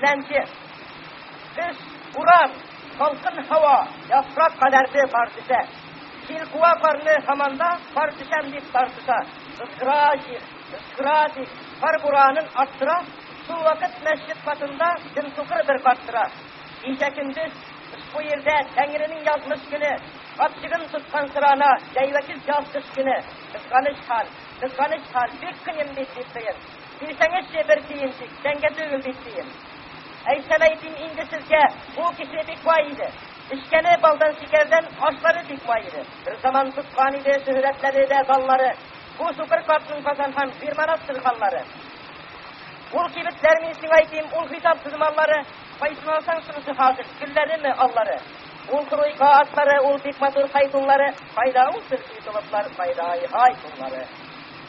Теләнче көз, урам, салкын һава, яфрак кадәрде кар төшә. Җил куа карны һаманда, кар төшәм дип тартыша. Кызгыра җир, кызгыра дип, кар буранын арттыра. Шул вакыт мәчет катында дөм сукыр бер карт тора. Кичә көндез ошбу җирдә Тәңренең язмыш көне, капчыгын тоткан сорана, җәйвәкил яз кыш көне. Кызганыч хәл, кызганыч хәл, бик кыен бит, дип тыен. Бирсәңезче бер тиен тик, тәңкә түгел бит, диим. Әйтсәм әйтим инде сезгә, бу кеше бик бай иде. Эчкәне балдан шикәрдән, ашлары бик бай иде. Бер заман тоткан иде, шөһрәтләде дә баллары. Бу сукыр картның казан һәм бирманат сырханлары. Ул кибетләр мин сиңа әйтим, ул хисапсыз маллары, кайсын алсаң шунысы хасил, гөлләреме, аллары. Ул круйка атлары, ул бик матур хайтунлары, кайда ул сырхи толыплар, кайда ай хайтунлары.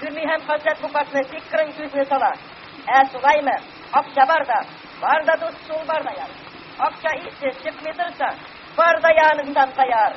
Гөли һәм Хаҗәт бу картны бик кырын күзне сала. Ә шулаймы? Акча бар да. Бар да дус шул бар да яр. Акча исе чыкмый торса, бар да яныңдан таяр.